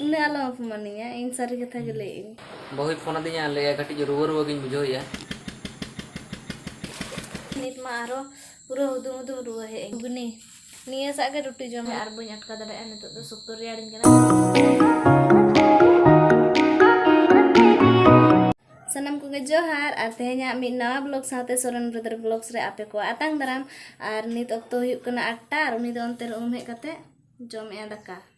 ᱩᱱᱟᱹᱜ ᱟᱞᱚᱢ ᱚᱯᱚᱢᱟᱱᱤᱧᱟ ᱤᱧ ᱥᱟᱹᱨᱤ ᱠᱟᱛᱷᱟ ᱜᱮ ᱞᱟᱹᱭ ᱤᱧ ᱵᱟᱹᱦᱩᱭ ᱯᱷᱳᱱ ᱟᱹᱫᱤᱧᱟ ᱞᱟᱹᱭᱟ ᱠᱟᱹᱴᱤᱡ ᱨᱩᱣᱟᱹ ᱨᱩᱣᱟᱹ ᱜᱤᱧ ᱵᱩᱡᱷᱟᱹᱣᱮᱫᱼᱟ ᱱᱤᱛ ᱢᱟ ᱟᱨᱚ ᱯᱩᱨᱟᱹ ᱦᱩᱫᱩᱢ ᱦᱩᱫᱩᱢ ᱨᱩᱣᱟᱹ ᱦᱮᱡ ᱟᱹᱧ ᱜᱩᱱᱤ ᱱᱤᱭᱟᱹ ᱥᱟᱜ ᱜᱮ ᱨᱩᱴᱤ ᱡᱚᱢ ᱟᱨ ᱵᱟᱹᱧ ᱟᱴᱠᱟ ᱫᱟᱲᱮᱭᱟᱜᱼᱟ ᱱᱤᱛᱚᱜ ᱫᱚ ᱥᱚᱠᱛᱚ ᱨᱮᱭᱟᱲᱤᱧ ᱠᱟᱱᱟ ᱥᱟᱱᱟᱢ ᱠᱚᱜᱮ ᱡᱚᱦᱟᱨ ᱟᱨ ᱛᱮᱦᱮᱧᱟᱜ ᱢᱤᱫ ᱱᱟᱣᱟ ᱵᱞᱚᱜ ᱥᱟᱶᱛᱮ ᱥᱚᱨᱮᱱ ᱵᱨᱚᱫᱟᱨ ᱵᱞᱚᱜᱥ ᱨᱮ ᱟᱯᱮ ᱠᱚ ᱟᱛᱟᱝ ᱫᱟᱨᱟᱢ ᱟᱨ ᱱᱤᱛ ᱚᱠᱛᱚ ᱦᱩᱭᱩᱜ ᱠᱟᱱᱟ ᱟᱴᱴᱟ ᱟᱨ ᱩᱱᱤ ᱫᱚ ᱚᱱᱛᱮ ᱨᱮ ᱩᱢ ᱦᱮᱡ ᱠᱟᱛᱮ ᱡᱚᱢᱮᱜᱼᱟ ᱫᱟᱠᱟ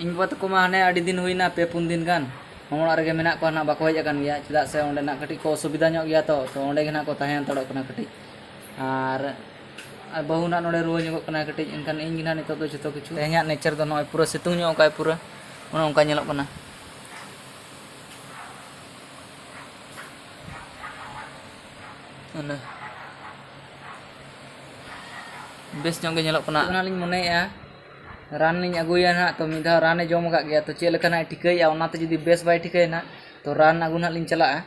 ᱤᱧ ᱵᱟᱵᱟ ᱛᱟᱠᱚ ᱢᱟ ᱦᱟᱱᱮ ᱟᱹᱰᱤ ᱫᱤᱱ ᱦᱩᱭᱱᱟ ᱯᱮ ᱯᱩᱱ ᱫᱤᱱ ᱜᱟᱱ ᱦᱚᱸ ᱚᱲᱟᱜ ᱨᱮᱜᱮ ᱢᱮᱱᱟᱜ ᱠᱚᱣᱟ ᱱᱟᱜ ᱵᱟᱠᱚ ᱦᱮᱡ ᱟᱠᱟᱱ ᱜᱮᱭᱟ ᱪᱮᱫᱟᱜ ᱥᱮ ᱚᱸᱰᱮ ᱱᱟᱜ ᱠᱟᱹᱴᱤᱡ ᱠᱚ ᱚᱥᱩᱵᱤᱫᱟ ᱧᱚᱜ ᱜᱮᱭᱟ ᱛᱚ ᱛᱚ ᱚᱸᱰᱮ ᱜᱮ ᱱᱟᱜ ᱠᱚ ᱛᱟᱦᱮᱸ ᱦᱟᱛᱟᱲᱚᱜ ᱠᱟᱱᱟ ᱠᱟᱹᱴᱤᱡ ᱟᱨ ᱟᱨ ᱵᱟᱹᱦᱩ ᱱᱟᱜ ᱱᱚᱰᱮ ᱨᱩᱣᱟᱹ ᱧᱚᱜᱚᱜ ᱠᱟᱱᱟ ᱠᱟᱹᱴᱤᱡ ᱮᱱᱠᱷᱟᱱ ᱤᱧ ᱜᱮ ᱱᱟᱜ ᱱᱤᱛᱚᱜ ᱫᱚ ᱡᱚᱛᱚ ᱠᱤᱪᱷᱩ ᱛᱮᱦᱮᱧᱟᱜ ᱱᱮᱪᱟᱨ ᱫᱚ ᱱᱚᱜᱼᱚᱭ ᱯᱩᱨᱟᱹ ᱥᱤᱛᱩᱝ ᱧᱚᱜ ᱠᱟᱜᱼᱟᱭ ᱯᱩᱨᱟᱹ ᱚᱱᱮ ᱚᱱᱠᱟ ᱧᱮᱞᱚᱜ ᱠᱟᱱᱟ ᱚᱱᱟ ᱵᱮᱥ ᱧᱚᱜ ᱜᱮ ᱧᱮᱞᱚᱜ ᱠᱟᱱᱟ ᱚᱱᱟᱞᱤᱧ ᱢᱚᱱᱮᱭᱮᱫᱼᱟ ᱨᱟᱱ ᱞᱤᱧ ᱟᱹᱜᱩᱭᱟ ᱱᱟᱦᱟᱜ ᱛᱚ ᱢᱤᱫ ᱫᱷᱟᱣ ᱨᱟᱱᱮ ᱡᱚᱢ ᱟᱠᱟᱫ ᱜᱮᱭᱟ ᱛᱚ ᱪᱮᱫ ᱞᱮᱠᱟ ᱱᱟᱦᱟᱜ ᱴᱷᱤᱠᱟᱹᱭᱮᱫᱼᱟ ᱚᱱᱟᱛᱮ ᱡᱩᱫᱤ ᱵᱮᱥ ᱵᱟᱭ ᱴᱷᱤᱠᱟᱹᱭᱟ ᱱᱟᱦᱟᱜ ᱛᱚ ᱨᱟᱱ ᱟᱹᱜᱩ ᱱᱟᱦᱟᱜ ᱞᱤᱧ ᱪᱟᱞᱟᱜᱼᱟ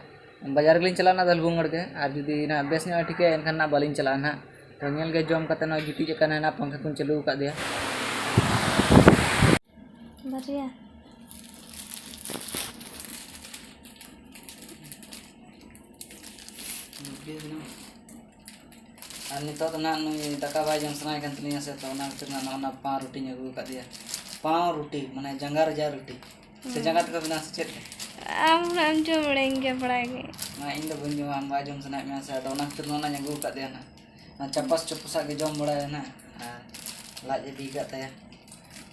ᱵᱟᱡᱟᱨ ᱜᱮᱞᱤᱧ ᱪᱟᱞᱟᱜᱼᱟ ᱱᱟᱦᱟᱜ ᱫᱷᱟᱹᱞᱵᱷᱩᱝᱜᱚᱲ ᱜᱮ ᱟᱨ ᱡᱩᱫᱤ ᱱᱟᱦᱟᱜ ᱵᱮᱥ ᱧᱚᱜᱼᱮ ᱴᱷᱤᱠᱟᱹᱭᱟ ᱮᱱᱠᱷᱟᱱ ᱱᱟᱦᱟᱜ ᱵᱟᱹᱞᱤᱧ ᱪᱟᱞᱟᱜᱼᱟ ᱱᱟᱦᱟᱜ ᱛᱚ ᱧᱮᱞ ᱜᱮ ᱡᱚᱢ ᱠᱟᱛᱮᱫ ᱱᱚᱜᱼᱚᱭ ᱜᱤᱛᱤᱡ ᱟᱠᱟᱱᱟᱭ ᱱᱟᱦᱟᱜ ᱯᱟᱝᱠᱷᱟ ᱠᱚᱧ ᱪᱟᱹᱞᱩ ᱟᱠᱟᱫᱮᱭᱟ ᱵᱟᱨᱭᱟ ᱟᱨ ᱱᱤᱛᱚᱜ ᱫᱚ ᱱᱟᱦᱟᱜ ᱱᱩᱭ ᱫᱟᱠᱟ ᱵᱟᱭ ᱡᱚᱢ ᱥᱟᱱᱟᱭᱮ ᱠᱟᱱ ᱛᱟᱞᱤᱧᱟ ᱥᱮ ᱛᱚ ᱚᱱᱟ ᱠᱷᱟᱹᱛᱤᱨ ᱱᱟᱦᱟᱜ ᱱᱚᱜᱼᱚ ᱱᱟ ᱯᱟᱣ ᱨᱩᱴᱤᱧ ᱟᱹᱜᱩ ᱟᱠᱟᱫᱮᱭᱟ ᱯᱟᱣ ᱨᱩᱴᱤ ᱢᱟᱱᱮ ᱡᱟᱸᱜᱟ ᱨᱮᱭᱟᱜ ᱨᱩᱴᱤ ᱥᱮ ᱡᱟᱸᱜᱟ ᱛᱮᱠᱚ ᱵᱮᱱᱟᱣᱟ ᱥᱮ ᱪᱮᱫ ᱞᱮᱠᱟ ᱟᱢ ᱦᱩᱱᱟᱹᱝ ᱮᱢ ᱡᱚᱢ ᱵᱟᱲᱟᱭᱮᱱ ᱜᱮᱭᱟ ᱵᱟᱲᱟᱭ ᱜᱮ ᱢᱟ ᱤᱧ ᱫᱚ ᱵᱟᱹᱧ ᱡᱚᱢᱟ ᱟᱢ ᱵᱟᱭ ᱡᱚᱢ ᱥᱟᱱᱟᱭᱮᱫ ᱢᱮᱭᱟ ᱥᱮ ᱟᱫᱚ ᱚᱱᱟ ᱠᱷᱟᱹᱛᱤᱨ ᱱᱚᱜᱼᱚ ᱱᱟᱧ ᱟᱹᱜᱩ ᱟᱠᱟᱫᱮᱭᱟ ᱱᱟᱦᱟᱜ ᱚᱱᱟ ᱪᱟᱯᱟᱥ ᱪᱩᱯᱩᱥᱟᱜ ᱜᱮ ᱡᱚᱢ ᱵᱟᱲᱟᱭᱟᱭ ᱱᱟᱦᱟᱜ ᱟᱨ ᱞᱟᱡ ᱮ ᱵᱤ ᱠᱟᱜ ᱛᱟᱭᱟ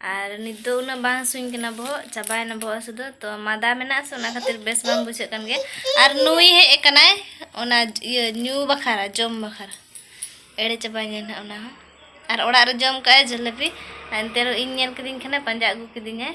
ᱟᱨ ᱱᱤᱛ ᱫᱚ ᱩᱱᱟᱹᱜ ᱵᱟᱝ ᱦᱟᱹᱥᱩᱧ ᱠᱟᱱᱟ ᱵᱚᱦᱚᱜ ᱪᱟᱵᱟᱭᱮᱱᱟ ᱵᱚᱦᱚᱜ ᱦᱟᱹᱥᱩ ᱫᱚ ᱛᱚ ᱢᱟᱫᱟ ᱢᱮᱱᱟᱜᱼᱟ ᱥᱮ ᱚᱱᱟ ᱠᱷᱟᱹᱛᱤᱨ ᱵᱮᱥ ᱵᱟᱝ ᱵᱩᱡᱷᱟᱹᱜ ᱠᱟᱱ ᱜᱮᱭᱟ ᱟᱨ ᱱᱩᱭ ᱦᱮᱡ ᱟᱠᱟᱱᱟᱭ ᱚᱱᱟ ᱤᱭᱟᱹ ᱧᱩ ᱵᱟᱠᱷᱨᱟ ᱡᱚᱢ ᱵᱟᱠᱷᱨᱟ ᱮᱲᱮ ᱪᱟᱵᱟᱭᱮᱱᱟ ᱱᱟᱦᱟᱜ ᱚᱱᱟ ᱦᱚᱸ ᱟᱨ ᱚᱲᱟᱜ ᱨᱮ ᱡᱚᱢ ᱠᱟᱜᱼᱟᱭ ᱡᱷᱟᱹᱞᱟᱹᱯᱤ ᱮᱱᱛᱮ ᱨᱮᱦᱚᱸ ᱤᱧ ᱧᱮᱞ ᱠᱤᱫᱤᱧ ᱠᱷᱟᱱᱮ ᱯᱟᱸᱡᱟ ᱟᱹᱜᱩ ᱠᱤᱫᱤᱧᱟᱭ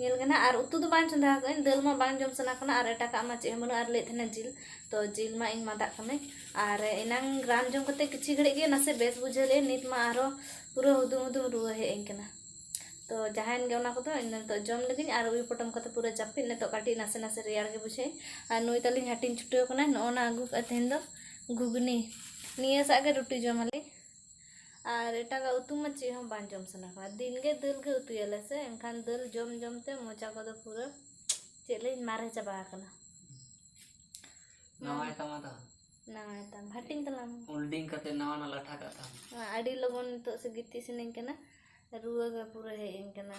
ᱧᱮᱞ ᱠᱟᱱᱟ ᱟᱨ ᱩᱛᱩ ᱫᱚ ᱵᱟᱝ ᱪᱚᱸᱫᱟ ᱟᱠᱟᱫ ᱟᱹᱧ ᱫᱟᱹᱞ ᱢᱟ ᱵᱟᱝ ᱡᱚᱢ ᱥᱟᱱᱟ ᱠᱟᱱᱟ ᱟᱨ ᱮᱴᱟᱜᱟᱜ ᱢᱟ ᱪᱮᱫ ᱦᱚᱸ ᱵᱟᱹᱱᱩᱜᱼᱟ ᱟᱨ ᱞᱟᱹᱭᱮᱫ ᱛᱟᱦᱮᱱᱟ ᱡᱤᱞ ᱛᱚ ᱡᱤᱞ ᱢᱟ ᱤᱧ ᱢᱟᱫᱟᱜ ᱠᱟᱹᱱᱟᱹᱧ ᱟᱨ ᱮᱱᱟᱝ ᱨᱟᱱ ᱡᱚᱢ ᱠᱟᱛᱮ ᱠᱤᱪᱷᱩ ᱜᱷᱟᱹᱲᱤᱡ ᱜᱮ ᱱᱟᱥᱮ ᱵᱮᱥ ᱵᱩᱡᱷᱟᱹᱣ ᱞᱮᱫ ᱱᱤᱛ ᱢᱟ ᱟᱨᱚ ᱯᱩᱨᱟᱹ ᱦᱩᱫᱩᱢ ᱦᱩᱫᱩᱢ ᱨᱩᱣᱟᱹ ᱦᱮᱡ ᱟᱹᱧ ᱠᱟᱱᱟ ᱛᱚ ᱡᱟᱦᱟᱸᱭᱮᱱ ᱜᱮ ᱚᱱᱟ ᱠᱚᱫᱚ ᱤᱧ ᱱᱤᱛᱚᱜ ᱡᱚᱢ ᱞᱮᱜᱤᱧ ᱟᱨ ᱩᱭᱩ ᱯᱚᱴᱚᱢ ᱠᱟᱛᱮ ᱯᱩᱨᱟᱹ ᱡᱟᱹᱯᱤᱫ ᱱᱤᱛᱚᱜ ᱠᱟᱹᱴᱤᱡ ᱱᱟᱥᱮ ᱱᱟᱥᱮ ᱨᱮᱭᱟᱲ ᱜᱮ ᱵᱩᱡᱷᱟᱹᱣᱮᱫ ᱟᱨ ᱱᱩᱭ ᱛᱟᱹᱞᱤᱧ ᱦᱟᱹᱴᱤᱧ ᱪᱷᱩᱴᱟᱹᱣ ᱠᱟᱱᱟᱭ ᱱᱚᱜᱼᱚ ᱱᱟ ᱟᱹᱜᱩ ᱠᱟᱜᱼᱟ ᱛᱮᱦᱮᱧ ᱫᱚ ᱜᱷᱩᱜᱽᱱᱤ ᱱᱤᱭᱟᱹ ᱥᱟᱜ ᱜᱮ ᱨᱩᱴᱤ ᱡᱚᱢᱟᱞᱤᱧ ᱟᱨ ᱮᱴᱟᱜᱟᱜ ᱩᱛᱩ ᱢᱟ ᱪᱮᱫ ᱦᱚᱸ ᱵᱟᱝ ᱡᱚᱢ ᱥᱟᱱᱟ ᱠᱟᱱᱟ ᱫᱤᱱ ᱜᱮ ᱫᱟᱹᱞ ᱜᱮ ᱩᱛᱩᱭᱟᱞᱮ ᱥᱮ ᱮᱱᱠᱷᱟᱱ ᱫᱟᱹᱞ ᱡᱚᱢ ᱡᱚᱢ ᱛᱮ ᱢᱚᱪᱟ ᱠᱚᱫᱚ ᱯᱩᱨᱟᱹ ᱪᱮᱫ ᱞᱟᱹᱭᱟᱹᱧ ᱢᱟᱨᱮ ᱪᱟᱵᱟ ᱟᱠᱟᱱᱟ ᱱᱟᱣᱟᱭ ᱛᱟᱢᱟ ᱫᱚ ᱱᱟᱣᱟᱭ ᱛᱟᱢ ᱦᱟᱹᱴᱤᱧ ᱛᱟᱞᱟᱝ ᱢᱮ ᱦᱳᱞᱰᱤᱝ ᱠᱟᱛᱮ ᱱᱟᱣᱟ ᱱᱟᱣᱟ ᱞᱟᱴᱷᱟ ᱠᱟᱜ ᱛᱟᱢ ᱟᱹᱰᱤ ᱞᱚᱜᱚᱱ ᱱᱤᱛᱚᱜ ᱥᱮ ᱜᱤᱛᱤᱡ ᱥᱟᱱᱟᱧ ᱠᱟᱱᱟ ᱨᱩᱣᱟᱹ ᱜᱮ ᱯᱩᱨᱟᱹ ᱦᱮᱡ ᱟᱹᱧ ᱠᱟᱱᱟ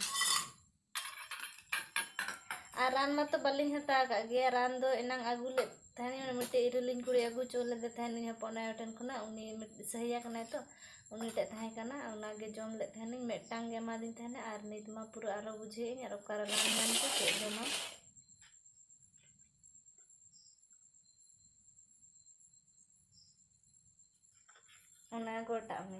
ᱟᱨ ᱨᱟᱱ ᱢᱟᱛᱚ ᱵᱟᱹᱞᱤᱧ ᱦᱟᱛᱟᱣ ᱠᱟᱜ ᱜᱮᱭᱟ ᱨᱟᱱ ᱫᱚ ᱮᱱᱟᱝ ᱟᱹᱜᱩ ᱞᱮᱫ ᱛᱟᱦᱮᱱᱤᱧ ᱢᱤᱫᱴᱮᱡ ᱤᱨᱤᱞᱤᱧ ᱠᱩᱲᱤ ᱟᱹᱜᱩ ᱦᱚᱪᱚ ᱞᱮᱫᱮ ᱛᱟᱦᱮᱱᱤᱧ ᱦᱚᱯᱚᱱ ᱟᱭᱳ ᱴᱷᱮᱱ ᱠᱷᱚᱱᱟᱜ ᱩᱱᱤ ᱥᱟᱹᱦᱤᱭᱟ ᱠᱟᱱᱟᱭ ᱛᱚ ᱩᱱᱤ ᱴᱷᱮᱡ ᱛᱟᱦᱮᱸ ᱠᱟᱱᱟ ᱚᱱᱟ ᱜᱮ ᱡᱚᱢ ᱞᱮᱫ ᱛᱟᱦᱮᱱᱤᱧ ᱢᱤᱫᱴᱟᱝ ᱜᱮ ᱮᱢᱟᱫᱤᱧ ᱛᱟᱦᱮᱱᱟ ᱟᱨ ᱱᱤᱛ ᱢᱟ ᱯᱩᱨᱟᱹ ᱟᱨᱚ ᱵᱩᱡᱷᱟᱹᱣᱮᱫ ᱟᱹᱧ ᱟᱨ ᱚᱠᱟᱨᱮ ᱨᱟᱱ ᱧᱟᱢ ᱠᱚ ᱪᱮᱫ ᱡᱚᱢᱟ ᱚᱱᱟ ᱜᱚᱴᱟᱜ ᱢᱮ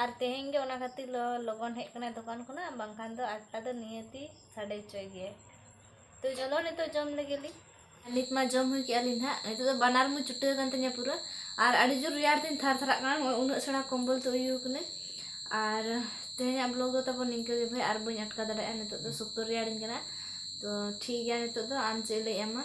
ᱟᱨ ᱛᱮᱦᱮᱧ ᱜᱮ ᱚᱱᱟ ᱠᱷᱟᱹᱛᱤᱨ ᱞᱚ ᱞᱚᱜᱚᱱ ᱦᱮᱡ ᱠᱟᱱᱟᱭ ᱫᱚᱠᱟᱱ ᱠᱷᱚᱱᱟᱜ ᱵᱟᱝᱠᱷᱟᱱ ᱫᱚ ᱟᱴᱴᱟ ᱫᱚ ᱱᱤᱦᱟᱹᱛᱤ ᱥᱟᱰᱮ ᱦᱚᱪᱚᱭ ᱜᱮᱭᱟᱭ ᱛᱚ ᱪᱚᱞᱚ ᱱᱤᱛᱚᱜ ᱡᱚᱢ ᱞᱮᱜᱮ ᱞᱤᱧ ᱱᱤᱛ ᱢᱟ ᱡᱚᱢ ᱦᱩᱭ ᱠᱮᱜᱼᱟ ᱞᱤᱧ ᱱᱟᱦᱟᱜ ᱱᱤᱛᱚᱜ ᱫᱚ ᱵᱟᱱᱟᱨ ᱢᱩ ᱪᱩᱴᱟᱹ ᱟᱠᱟᱱ ᱛᱤᱧᱟ ᱯᱩᱨᱟᱹ ᱟᱨ ᱟᱹᱰᱤ ᱡᱳᱨ ᱨᱮᱭᱟᱲ ᱛᱤᱧ ᱛᱷᱟᱨ ᱛᱷᱟᱨᱟᱜ ᱠᱟᱱᱟ ᱱᱚᱜᱼᱚᱭ ᱩᱱᱟᱹᱜ ᱥᱮᱬᱟ ᱠᱚᱢᱵᱚᱞ ᱛᱮ ᱩᱭᱩ ᱠᱟᱹᱱᱟᱹᱧ ᱟᱨ ᱛᱮᱦᱮᱧᱟᱜ ᱵᱞᱚᱜ ᱫᱚ ᱛᱟᱵᱚᱱ ᱱᱤᱝᱠᱟᱹ ᱜᱮ ᱵᱷᱟᱭ ᱟᱨ ᱵᱟᱹᱧ ᱟᱴᱠᱟᱣ ᱫᱟᱲᱮᱭᱟᱜᱼᱟ ᱱᱤᱛᱚᱜ ᱫᱚ ᱥᱚᱠᱛᱚ ᱨᱮᱭᱟᱲᱤᱧ ᱠᱟᱱᱟ ᱛᱚ ᱴᱷᱤᱠ ᱜᱮᱭᱟ ᱱᱤᱛᱚᱜ ᱫᱚ ᱟᱢ ᱪᱮᱫ ᱞᱟᱹᱭᱮᱜᱼᱟ ᱢᱟ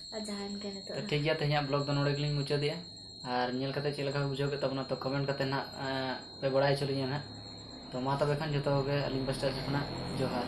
ᱛᱚ ᱴᱷᱤᱠ ᱜᱮᱭᱟ ᱛᱮᱦᱮᱧᱟᱜ ᱵᱞᱚᱜᱽ ᱫᱚ ᱱᱚᱰᱮ ᱜᱮᱞᱤᱧ ᱢᱩᱪᱟᱹᱫᱮᱜᱼᱟ ᱟᱨ ᱧᱮᱞ ᱠᱟᱛᱮ ᱪᱮᱫ ᱞᱮᱠᱟ ᱯᱮ ᱵᱩᱡᱷᱟᱹᱣ ᱠᱮᱫ ᱛᱟᱵᱚᱱᱟ ᱛᱚ ᱠᱚᱢᱮᱱᱴ ᱠᱟᱛᱮ ᱱᱟᱜ ᱯᱮ ᱵᱟᱲᱟᱭ ᱦᱚᱪᱚ ᱞᱤᱧᱟ ᱱᱟᱜ ᱛᱚ ᱢᱟ ᱛᱚᱵᱮ ᱠᱷᱟᱱ ᱡᱚᱛᱚ ᱠᱚᱜᱮ ᱟᱹᱞᱤᱧ ᱯᱟᱥᱴᱟ ᱥᱮᱫ ᱠᱷᱚᱱᱟᱜ ᱡᱚᱦᱟᱨ